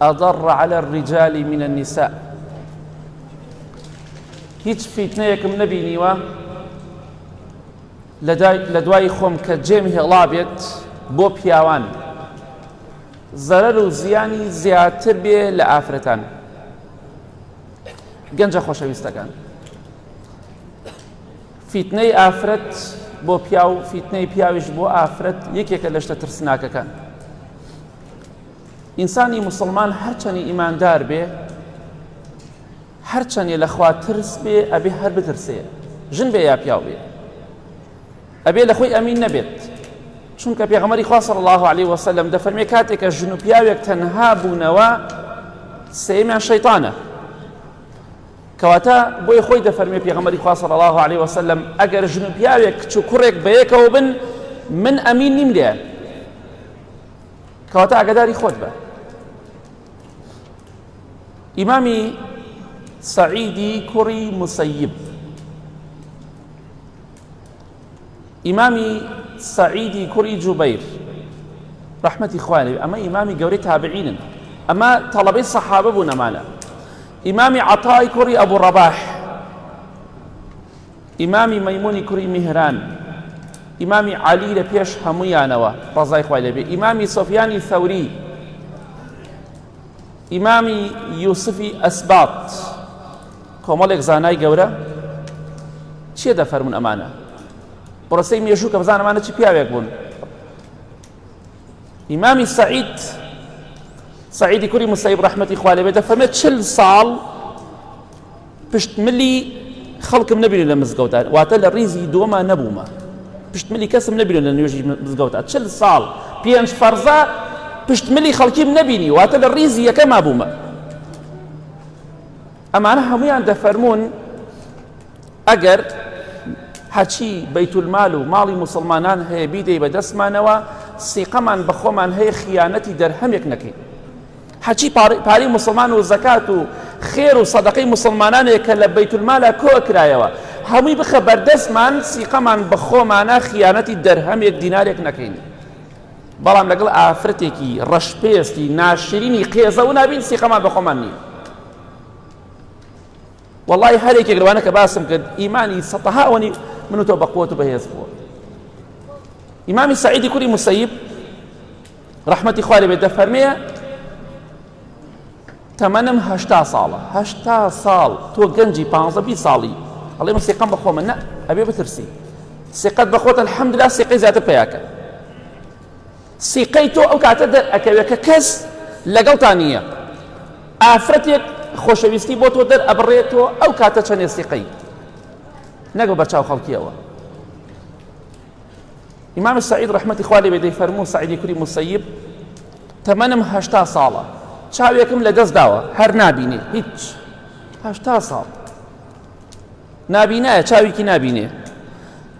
اضر علی الرجال من النساء هیچ فیتنەیەکم نەبینیوە لە دوای خۆم کە جێم هێڵا بێت بۆ پیاوان زەرەر و زیانی زیاتر بێ لە ئافرەتان گەنجە خۆشەویستەکان فیتنەی ئافرەت بۆ پیاو فیتنەی پیاویش بۆ ئافرەت یەکێکە لە شتە ترسناکەکان ئینسانی موسڵمان هەرچەنی ئیماندار بێ هەرچەنێ لەخوا ترس بێ ئەبێ هەر بترسێ ژن بێ یا پیاو بێ ئەبێ لە خۆی ئەمین نەبێت چونکە پێغمەری خواصل الله عليه وسلم دەفەرمێ کاتێکە ژن و پیاوێک تەنها بوونەوە سێمیان شەیطانە کەواتە بۆی خۆی دەفەرمێ پێغمەری خواصل الله عليه وسلم ئەگەر ژن و پیاوێک کچ و کوڕێک بەیەکەوە بن من ئەمین نیم لێ کەواتە ئاگداری خۆت بە ئیمامی سعیدی کوڕی مسیب ئیمامی سعیدی کوڕی جوبیر ڕحمەتی خوانێ ئەمە ئیمامی گەورەی تابعینن ئەمە تەڵەبەی سەحابە بوو نەمانە ئیمامی عطای کوڕی ئەبوو ڕەباح ئیمامی مەیمونی کوڕی میهران ئیمامی عەلی لە پێش هەموویانەوە ڕەزای خوای لەبێ ئیمامی سۆفیانی ثەوری ئیمامی یوسفی ئەسبات کۆمەڵێک زانای گەورە چیە دەفەرمون ئەمانە بڕسەی مێژوو کە بزانمانە چی پیاوێک بوون ئیمامی سعید سعیدی کوری مسیب ڕحمەتی خوالێ بێت دەفەرمێت چل ساڵ پشت ملی خەڵکم نەبینی لە مزگەوتا واتە لە ڕیزی دووەما نەبوومە پشت ملی کەسم نەبینی لە نوێژی مزگەوتا چل ساڵ پێنج فەرزە پشت ملی خەڵکیم نەبینی واتە لە ڕیزی یەکەما بوومە ئەمانە هەمویان دەفەرمونون ئەگەر هەچی بەیتولمال و ماڵی مسلمانان هەیە بیدەی بە دەستمانەوە سیقەمان بەخۆمان هەیە خیانەتی دەرهەمێک نەکەین هەرچی پارەی موسڵمان و زەکات و خێر و سەدەقەی موسڵمانانێ کە لە بەیت المالا کۆ کرایەوە هەمووی بخە بەردەستمان سیقەمان بە خۆمانە خیانەتی دەرهەمێک دینارێک نەکەین بەڵام لەگەڵ ئافرەتێکی ڕەشپێستی ناشرینی قێزەو نابین سیقەمان بە خۆمان نییە والله هەر یەکێک لەوانە کە باسم کرد ئیمانی سەتەها ئەوەنی من و تۆ بەقوت و بەهێز بووە ئیمامی سعیدی کوری مسەیب ڕەحمەتی خوا لێ بێت دەفەرمێ تەمەنم هەشتا ساڵە هەشتا ساڵ تۆ گەنجی پانزە بی ساڵی ئەڵێ من سێقەم بە خۆمە نە ئەبێ بترسی سێقەت بە خۆتە الحەمدلا سێقەی زیاتر پیاکە سیقەی تۆ ئەو کاتە دەرئەکەوێت کە کەس لەگەڵتا نییە ئافرەتێک خۆشەویستی بۆ تۆ دەر ئەبڕێت تۆ ئەو کاتە چەندێ سیقەی نەگە بەرچاو خەڵکیەوە ئیمام سعید ڕحمەتی خوا لێبێ دەی فەرموو سعیدی کوری مسیب تەمەنم هەشتا ساڵە چاوێکم لە دەست داوە هەر نابینێ هیچ هەشتا ساڵ نابینایە چاوێکی نابینێ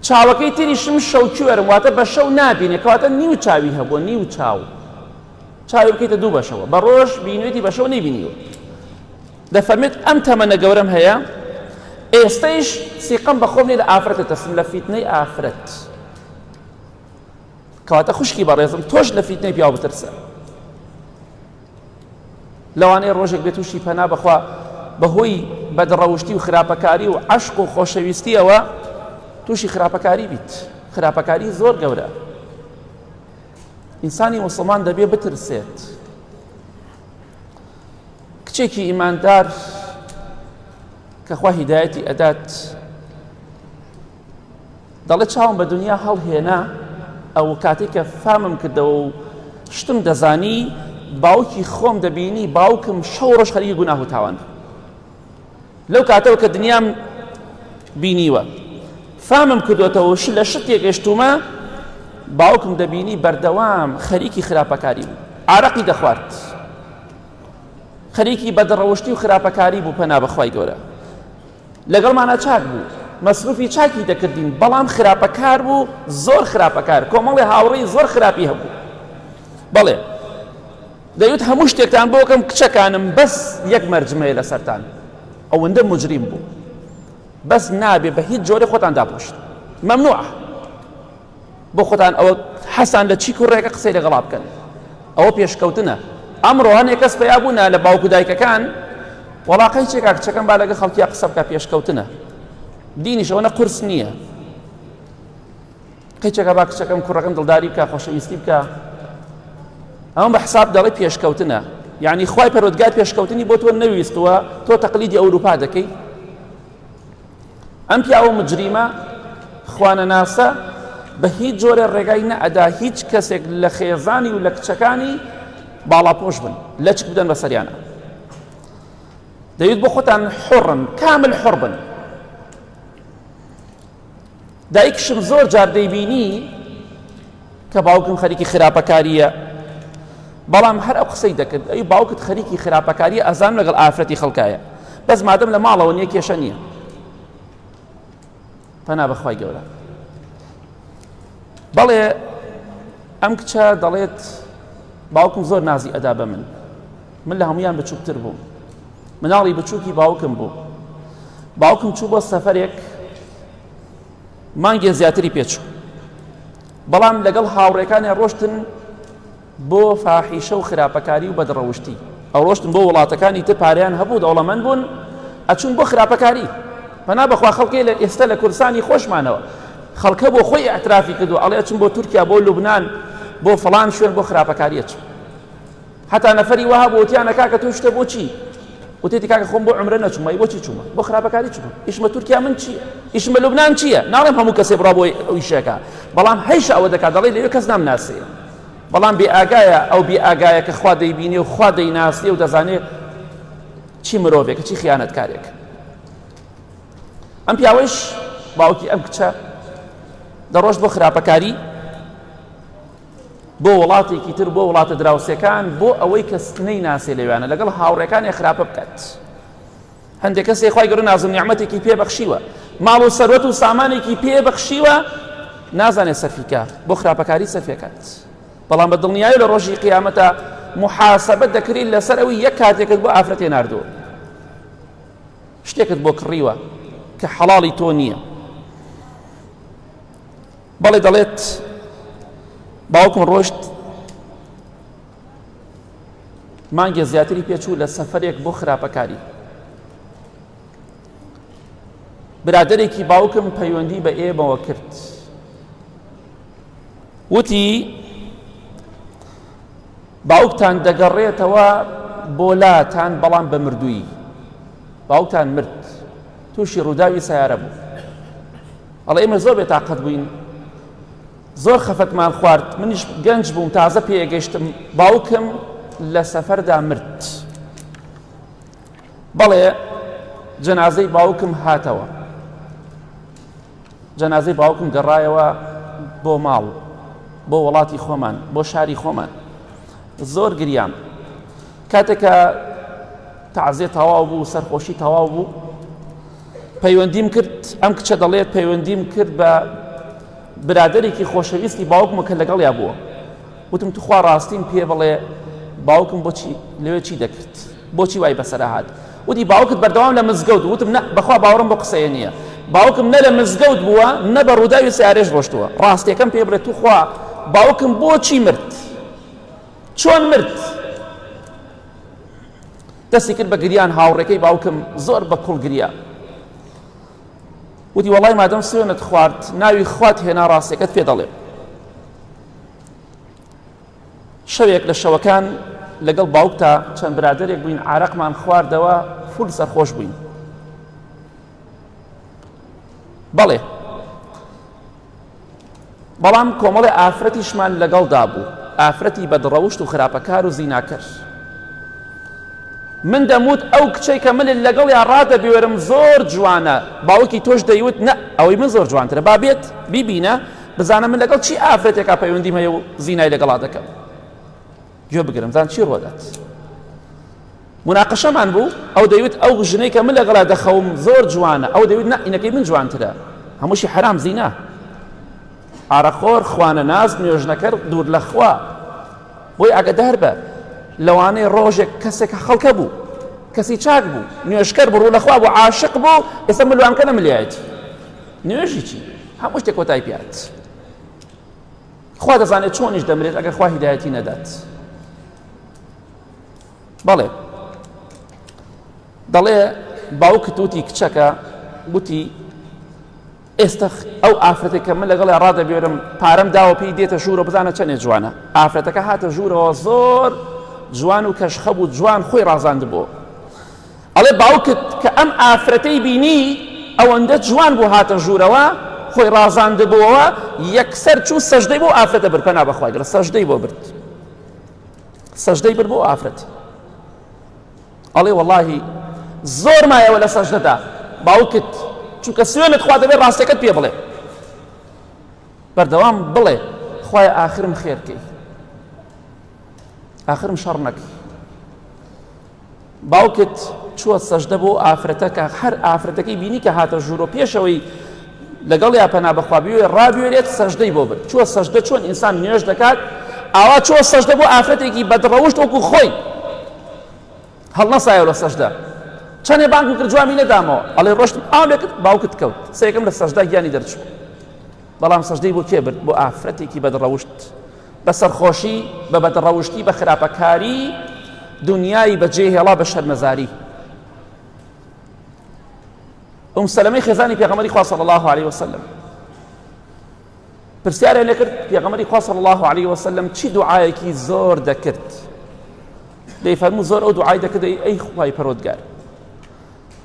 چاوەکەی تریشم شەوکوێرم واتە بە شەو نابینێ کەواتە نیو چاوی هەبووە نیو چاو چاوی بکەیتە دوو بەشەوە بە ڕۆژ بینێتی بە شەو نەیبینیوە دەفەرمێت، ئەم تەمەنە گەورەم هەیە، ئێستەیش سیقەم بە خۆم نیە لە ئافرەت دەترسم، لە فیتنەی ئافرەت. کەواتە خوشکی بەڕێزم تۆش لە فیتنەی پیاو بترسە. لەوانەیە ڕۆژێک بێت تووشی پەنا بەخوا بەهۆی بەدڕەوشتی و خراپەکاری و عشق و خۆشەویستیەوە تووشی خراپەکاری بیت خراپەکاری زۆر گەورە ئینسانی وسڵمان دەبێ بترسێت کچێکی ئیماندار کە خوا هیدایەتی ئەدات دەڵێ چاوم بە دنیا هەڵهێنا ئەو کاتێک کە فامم کردەوە و شتم دەزانی باوکی خۆم دەبینی باوکم شەو ڕۆژ خەریکی گوناه و تاوان لەو کاتەوە کە دنیام بینیوە فامم کردوێتەوە ش لە شتێک گەشتومە باوکم دەبینی بەردەوام خەریکی خراپەکاری بوو ئارەقی دەخوارد خەریکی بەدڕەوشتی و خراپەکاری بوو پەنا بەخوای گەورە لەگەڵمانە چاک بوو مەسروفی چاکی دەکردین بەڵام خراپەکار بوو زۆر خراپەکار کۆمەڵی هاوڕێی زۆر خراپی هەبوو بەڵێ دەیوت هەموو شتێکتان بۆ کەم کچەکانم بەس یەک مەرجمەیە لەسەرتان ئەوەندە مجریم بوو بەس نابێ بە هیچ جۆرە خۆتان داپۆشت مەمنوع بۆ خۆتان ئەوە حەسان لە چی کوڕێکە قسەی لەگەڵا بکەن ئەوە پێشکەوتنە ئەمڕۆ هەنێک کەس پیا بوونا لە باوک و دایکەکان وڵاقی چێکا کچەکەم با لەگە خەڵکییا قسە بکە پێشکەوتنە دینیشەوەە قرس نییە کچەکە با کچەکەم کوڕەکەم دڵداری بکە خۆشەویستی بکە ئەم بە حساب دەڵی پێشکەوتنە یعنی خی پەرۆدگار پێشکەوتنی بۆ تۆ نەویستوە تۆ تەقلیدی ئەوروپا دەکەی ئەم پیاوە مجریمە خوانەناسە بە هیچ جۆرە ڕێگای نەئەدا هیچ کەسێک لە خێزانی و لە کچەکانی باڵاپۆش بن لە چک بدەن بە سەریانە دەویت بۆ خۆتان حڕن کامل حڕ بن دایکیشم زۆر جار دەیبینی کە باوکم خەریکی خراپەکاریە بەڵام هەر ئەو قسەی دەکرد ئەی باوکت خەریکی خراپەکاری ئازان لەگەڵ ئافرەتی خەڵکایە بەس مادەم لە ماڵەوە نیە کێشە نییە پەنا بەخوای گەورە بەڵێ ئەم کچە دەڵێت باوکم زۆر نازی ئەدا بە من من لە هەمویان بچووکتر بووم مناڵی بچووکی باوکم بوو باوکم چوو بۆ سەفرێک مانگێ زیاتری پێچوو بەڵام لەگەڵ هاوڕێکانیان ڕۆشتن بۆ فاحیشە و خراپەکاری و بەدڕەوشتی ئەو ڕۆشتن بۆ وڵاتەکانی تر پاریان هەبوو دەوڵەمەند بوون ئەچون بۆ خراپەکاری پنا بەخوا خەڵکی لە ئێستا لە کوردستانی خۆشمانەوە خەڵکە بۆ خۆی ئەترافی کردو ئەڵێ چون بۆ تورکیا بۆ لوبناان بۆ فلان شوێن بۆ خراپەکاریە چون هەتا نەفەری وەها بوو وتیانە کاکە تۆ شتە بۆ چی وتێتی کاکە خۆم بۆ عمرە نەچوومە ئی بۆچی چوومە بۆ خراپەکاری چووم ئیشمە تورکیا من چییە ئیشمە لوبنان چییە ناڵێم هەموو کەسێ بڕا بۆی ئەوی شەکە بەڵام هەیشە ئەوە دەکات دەڵی لەوێ کەس نام ناسێ بەڵام بێ ئاگایە ئەو بێ ئاگایە کە خوا دەیبینێ و خوا دەیناسێ و دەزانێت چی مرۆڤێکە چی خیانەتکارێک ئەم پیاوەش باوکی ئەم کچە دەڕۆژ بۆ خراپەکاری بۆ وڵاتێکی تر بۆ وڵاتە دراوسێکان بۆ ئەوەی کەس نەیناسێ لەوێانە لەگەڵ هاوڕێکانی خراپە بکات هەندێک کەسێک خی گەڕ نازم نیعممەتێکی پێبەخشیوە ماڵ و سەروەت و سامانێکی پێبەخشیوە نازانێت سەرفیکە بۆ خراپەکاری سەرفەکەات بەڵام بە دڵنیایی لە ڕۆژی قیامەتە محاسبە دەکرین لەسەر ئەوی یەک کاتێکت بۆ ئافرەتێ نردووە شتێکت بۆ کڕیوە کە حەڵی تۆ نییە بەڵێ دەڵێت باوکم ڕۆشت مانگێ زیاتری پێچوو لە سەفرێک بۆ خراپەکاری برادێکی باوکم پەیوەندی بە ئێمەوە کرد وتی باوکتان دەگەڕێتەوە بۆ لاتان بەڵام بە مردووی باوکتان مرد تووشی ڕووداوی سیارە بوو ئەڵێ ئێمە زۆر بێتاقەت بووین زۆر خەفەتمان خوارد منیش گەنج بووم تازە پێگەشتم باوکم لە سەفەردا مرد بەڵێ جەنازەی باوکم هاتەوە جەنازەی باوکم گەڕایەوە بۆ ماڵ بۆ وڵاتی خۆمان بۆ شاری خۆمان زۆر گریان کاتێکە تازێ تەواو بوو سەرخۆشی تەواو بوو پەیوەندیم کرد ئەم کچە دەڵێت پەیوەندیم کرد بە برادێکی خۆشەویستی باوکمە کە لەگەڵیا بووە وتم توخوا ڕاستیم پێ بڵێ باوکم بۆچی لەوێ چی دەکرد بۆچی وای بەسەرهات وتی باوکت بەردەوام لە مزگەوت وتم نە بەخوا باوەڕم بۆ قسەیە نییە باوکم نە لە مزگەوت بووە نە بە ڕووداوی سارێش ڕۆشتووە ڕاستەکەم پێ بڵێت توخوا باوکم بۆچی مرد چۆن مرد دەستی کرد بە گریان هاوڕێکەی باوکم زۆر بە کوڵ گریا وتی وەڵای مادەم سوێنت خوارد ناوی خوات هێنا ڕاستەکەت پێ دەڵێ شەوێک لە شەوەکان لەگەڵ باوکتا چەند برادێک بووین عراقمان خواردەوە فول سەرخۆش بووین بەڵێ بەڵام کۆمەڵێ ئافرەتیشمان لەگەڵدا بوو ئافرەتی بەدڕەوشت و خراپەکار و زیناکەر من دەموت ئەو کچەی کە ملل لەگەڵ یا ڕادەبێرم زۆر جوانە باوکی تۆش دەیوت نە ئەوەی من زۆر جوانترە با بێت بیبینە بزانە من لەگەڵ چی ئافرەتێکا پەیوەندیم هەیە و زینای لەگەڵا دەکەم گوێ بگرن بزان چی ڕۆدات مناقشەمان بوو ئەو دەیوت ئەو ژنەی کە من لەگەڵا دەخەوم زۆر جوانە ئەو دەوت نەئینەکەی من جوانترە هەمووشی حرام زینا ئارەخۆر خوانە ناز نوێژنەکەر دوور لەخوا بۆی ئەگەدار بە لەوانەیە ڕۆژێک کەسێک خەڵکە بوو کەسی چاک بوو نوێشکەر بڕوو لەخوا بۆ عاشق بوو ئێستا ملوانکە نەملیایەتی نوێژی چی هەموو شتێک کۆتای پات خوا دەزانێت چۆنیش دەمرێت ئەگەر خوا هیدایەتی نەدات بەڵێ دەڵێ باوکت وتی کچەکە گوتی ئێستا ئەو ئافرەتێک کە من لەگەڵ ڕادەبێرم پارەم داوە پێی دێتە ژوورە بزانە چەندێ جوانە ئافرەتەکە هاتە ژوورەوە زۆر جوان و کەشخە بوو جوان خۆی ڕازاند بوو ئەڵێ باوکت کە ئەم ئافرەتەی بینی ئەوەندە جوان بوو هاتە ژوورەوە خۆی ڕازاندبووەوە یەکسەر چوو سەژدەی بۆ ئافرەتە برد پەنا بەخوای گەڕ سەژدەی بۆ برد سەژدەی برد بۆ ئافرەت ئەڵێ وەڵاهی زۆر مایەوە لە سەژدەدا باوکت چونکە سوێنت خوا دەبێت ڕاستەکەت پێ بڵێ بەردەوام بڵێ خخوای ئاخرم خێرکەی ئاخرم شەڕ نەکەی باوکت چوە سەژدە بۆ ئافرەتەکە هەر ئافرەتەکەی بینی کە هاتە ژوورۆ پێشەوەی لەگەڵ یا پەنا بەخوابیێ ڕابێرێت سەژدەی بۆ بن چوە سەژدە چۆن ئینسان نوێش دەکات ئاوا چۆ سەژدە بۆ ئافرەتێکی بەدڕەوشت وەکو خۆی هەڵنەسایە لە سەژدە چەندێ بانک کرد جوابی نەدامەوە ئەڵێ ڕۆشت ئاو لێکت باوکت کەوت سێکم لە سەژدا گیانی دەرچوو بەڵام سەژدەی بۆ کێ برد بۆ ئافرەتێکی بەدڕەوشت بە سەرخۆشی، بە بەدڕەوشتی، بە خراپەکاری دونیای بە جێ هێڵا بە شەرمەزاری. ئوم سەلەمەی خێزانی پێغەمەری خوا صلی الله علیه وسلم پرسیاریان لەکرد پێغەمەری خوا صلی الله علیه وسلم چی دوعایەکی زۆر دەکرد دەی فەرموو زۆر ئەو دوعای دەکرد ئەی خوای پەرۆدگار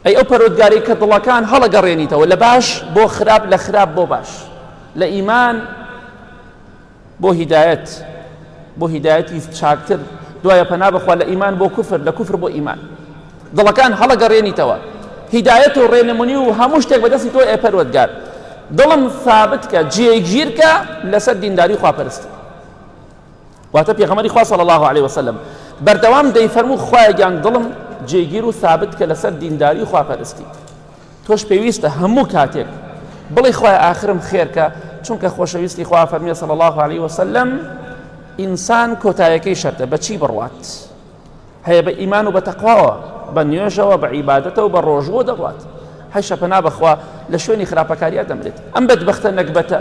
ئەی ئەو پەرۆدگاری کە دڵەکان هەڵەگەڕێنیتەوە لە باش بۆ خراپ لە خراپ بۆ باش لە ئیمان بۆ هیدایەت بۆ هیدایەتی چاکتر دوایە پەنا بەخوا لە ئیمان بۆ کوفر لە کوفر بۆ ئیمان دڵەکان هەڵەگەڕێنیتەوە هیدایەت و ڕێنمونی و هەموو شتێک بەدەستی تۆ ئێپەروەگار دڵم ثابت کە جێگیرکە لەسەر دینداری خواپەرستی واتە پێغەمەری خوا صلی الله عليه وسلم بەردەوام دەیفەرموو خوایەگیان دڵم جێگیر و ثابت کە لەسەر دینداری خواپەرستی تۆش پێویستە هەموو کاتێک بڵێ خوای ئاخرم خێرکە چونکە خۆشەویستی خوا فەرمیێ سەڵ الله عليه وسلم ئینسان کۆتایەکەی شەرتە بەچی بڕوات هەیە بە ئیمان و بە تەقواوە بە نوێژەوە بە عیباەتەوە بە ڕۆژوە دەڕات هەیشە پەنا بخوا لە شوێنی خراپەکاریا دەمرێت ئەم بەدبختە نەکبەتە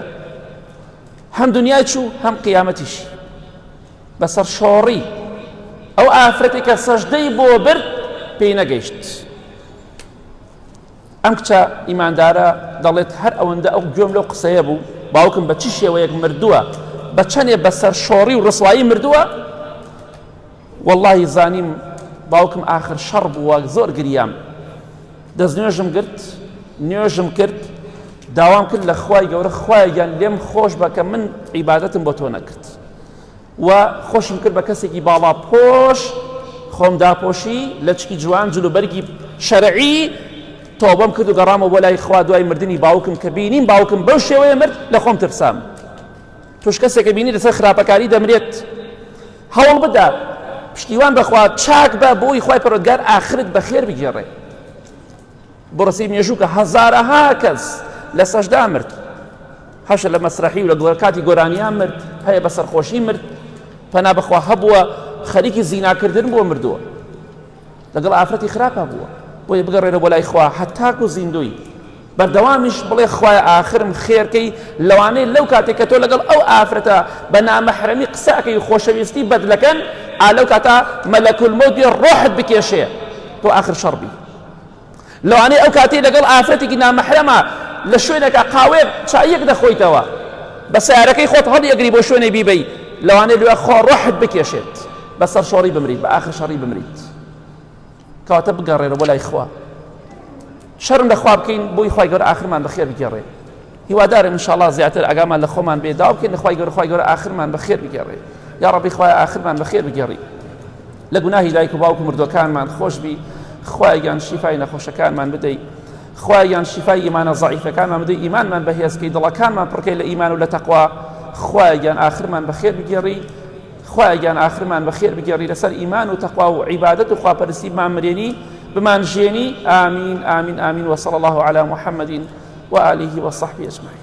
هەم دنیای چوو هەم قیامەتیش بەسەر شۆڕی ئەو ئافرەتێکە سەژدەی بۆ برد پێی نەگەیشت ئەم کچە ئیماندارە دەڵێت هەر ئەوەندە ئەو گوێم لەو قسەیە بوو باوکم بە چی شێوەیەک مردووە بە چەندێ بەسەر شۆڕی و ڕسوایی مردووە واللهی زانیم باوکم آخر شەڕ بووە زۆر گریام دەست نوێژم گرت نوێژم کرد داوام کرد لە خوای گەورە خوایان لێم خۆش بە کە من عیباەتم بۆ تۆ نەکرد و خۆشم کرد بە کەسێکی باڵا پۆش خۆم داپۆشی لەچکی جوان جلو بەرگی شەرعی تۆبەم کرد و گەڕامەوە بۆ لای خوا دوای مردنی باوکم کە بینیم باوکم بەو شێوەیە مرد لە خۆم ترسام توش کەسێکە بینی لەسەر خراپەکاری دەمرێت هەوڵ بدە پشتیوان بەخوا چاک بە بۆی خی پەرۆگار ئاخرت بەخێر بگێڕێ بۆ ڕەسەی مێژوو کە هەزارەها کەس لە سەشدا مرد هەشە لە مەسرحی و لە گۆر کاتی گۆرانیان مرد هەیە بە سەرخۆشی مرد پەنا بەخوا هەبووە خەریکی زیناکردن بۆ مردووە لەگەڵ ئافرەتی خراپە بووە بۆی بگەڕێنە بۆ لای خوا هەتاک و زیندوی بەردەوامیش بڵێ خوای ئاخرم خێرکەی لەوانەیە لەو کاتێک کە تۆ لەگەڵ ئەو ئافرەتە بە نامەحرەمی قسەکەی خۆشەویستی بەدلەکەن ئالەو کاتا مەلەکول مۆدی ڕۆحت بکێشێ تۆ ئاخر شەڕبی لەوانەیە ئەو کاتەی لەگەڵ ئافرەتێکی نامەحرەما لە شوێنێکا قاوەیەک چاییەک دەخۆیتەوە بە سیارەکەی خۆت هەڵیەگری بۆ شوێنێ بیبەی لەوانەیە لێ خۆ ڕۆحت بکێشێت بە سەر شۆڕی بمریت بە ئاخر شەڕی بمریت کەواتە بگەڕێرە بۆ لای خوا شەرم لەخوا بکەین بۆی خی گەور ئاخرمان بەخێر بگەڕێت هیوادارم ان شاءاللە زیاتر ئاگامان لە خۆمان بێ داوا بکەین لە خوای گەورە خوای گەورە ئاخرمان بە خێر بگێڕێ یا ڕەبی خوای ئاخرمان بە خێر بگێڕی لە گوناهی دایک و باوک و مردوەکانمان خۆش بی خوایان شیفای نەخۆشەکانمان بدەیت خوایان شیفای ئیمانە زعیفەکانمان بدەیت ئیمانمان بەهێزکەی دڵەکانمان پڕکەی لە ئیمان و لە تەقوا خوایان ئاخرمان بە خێر بگێڕی خوایە گیان ئاخرمان بە خێر بگێڕی لەسەر ئیمان و تەقوا و عیبادەت و خواپەرستی بمانمرێنی بمانژێنی ئامین ئامین ئامین وصل الله على محمد وآله وصحبه أجمعين